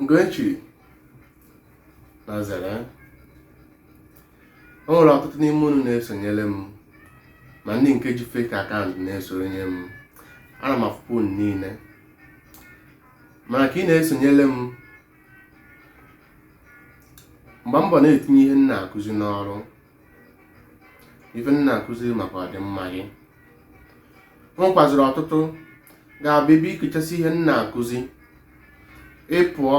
Ugochi na zere o nwere ọtụtụ n'ime unu na-esonyere m ma ndị nke ji fake account na-esonye m ana m afụpụ unu niile mana ka ị na-esonyere m gbaa mbọ na-etinye ihe m na-akụzi n'ọrụ ife m na-akụziri maka ọdịmma gị o nwekwaziri ọtụtụ ga-abịa ebe i gechasị ihe m na-akụzi ị pụọ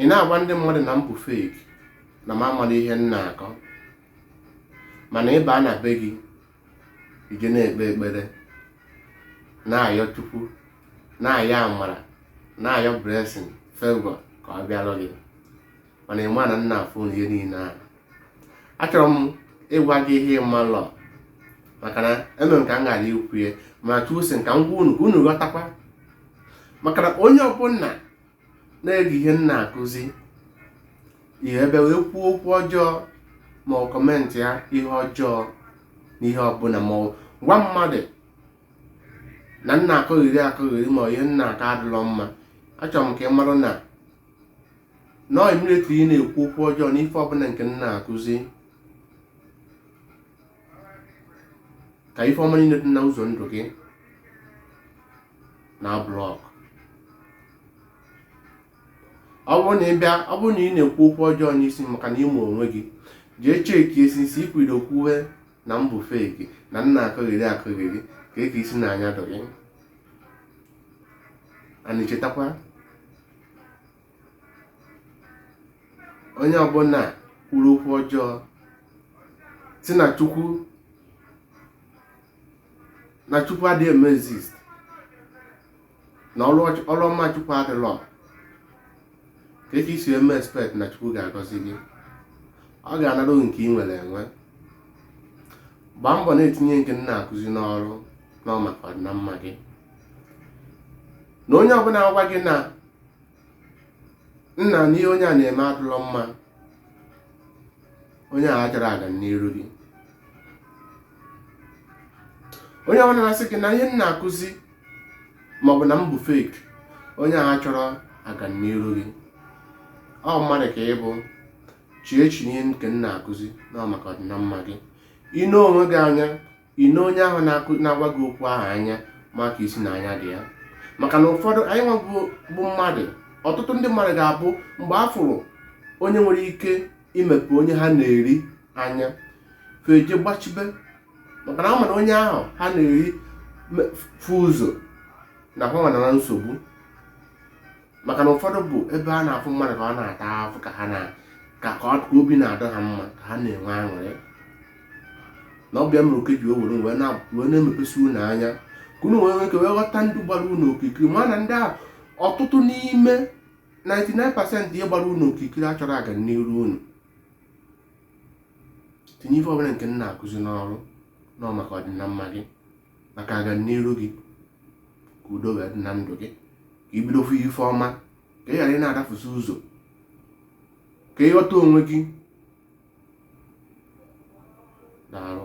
ị na-agwa ndị mmadụ na m bụ fake na m amarọ ihe m na-akọ mana ị baa na be gị i jee na-ekpe ekpere na-ayọ chukwu na-ayọ amara na-ayọ blessing favor ka ọ bịara gị mana ị ma na m na-afụ ihe niile ahụ achọrọ m ịgwa gị ihe ị malọ maka na eme m ka m ghara ikwu ya ma chukwu sị ka m gwa unu ka unu ghọtakwa maka na onye ọbụla na-ege ihe m na-akụzi ihe ebe wee kwuo okwu ọjọọ ma ọ commentịa ihe ọjọọ na ihe ọbụla ma ọ gwa mmadụ na m na-akọgheri akọgheri ma ihe m na-akọ adịlọ mma achọrọ m ka ị marụ na na ọ immediately ị na-ekwu okwu ọjọọ n'ife ọbụla nke m na-akụzi ka ife ọma niile dị na ụzọ ndụ gị na-block ọ bụrụ na ị bịa ọ bụrụ na ị na-ekwu okwu ọjọọ n'isi maka na ịmụ onwe gị jee checkie since i kwudo kwuwe na m bụ fake na m na-akọgheri akọgheri kee ka i si na-anya dụ gị ana echetakwa onye ọbụla kwuru okwu ọjọọ sị na chukwu na chukwu adịghị eme exist na ọrụ ọch- ọrụ ọma chukwu adịlọ kee ka i si eme expect na chukwu ga-agọzi gị ọ ga-anara nke ị nwere enwe gbaa mbọ na-etinye nke m na-akụzi n'ọrụ na ọ maka ọdịnamma gị na onye ọbụla agwa gị na nna na ihe onye a na-eme adụlọ mma onye a achọrọ aga n'iru gị onye ọbụla na-asị gị na ihe m na-akụzi maọbụ na m bụ fake onye a achọrọ aga n'iru gị ọ mmadụ ka ị bụ chee echiche nke m na-akụzi na ọ maka ọdịnamma gị i nee onwe gị anya ine onye ahụ na-agwa gị okwu ahụ anya ma ka isi na anya dị ya maka na ụfọdụ anyị nwa bụ mmadụ ọtụtụ ndị mmadụ ga-abụ mgbe a fụrụ onye nwere ike imepe onye ha na-eri anya feje gbachibe maka na a ma na onye ahụ ha na-eri fụ ụzọ na ha nwa nọ na nsogbu maka na ụfọdụ bụ ebe a na-afụ mmadụ ka ọ na-ata afụ ka ha na ka ka ọ- ka obi na-adị ha mma ka ha na-enwe aṅụrị na ọ bụ ya mere oke ji o were wee na- wee na-emepesi unu anya ka unu wee nwee ike wee ghọta ndị gbara unu okirikiri ma na ndị a ọtụtụ n'ime 99% ihe gbara unu okirikiri achọrọ agamniru unu tinye ife ọbụla nke m na-akụzi n'ọrụ na ọ maka ọdịnamma gị maka agamniru gị ka udo wee dị na ndụ gị ka i bido fụ ife ọma ka ị ghara ị na-adafụsị ụzọ ka ị ghọta onwe gị daalụ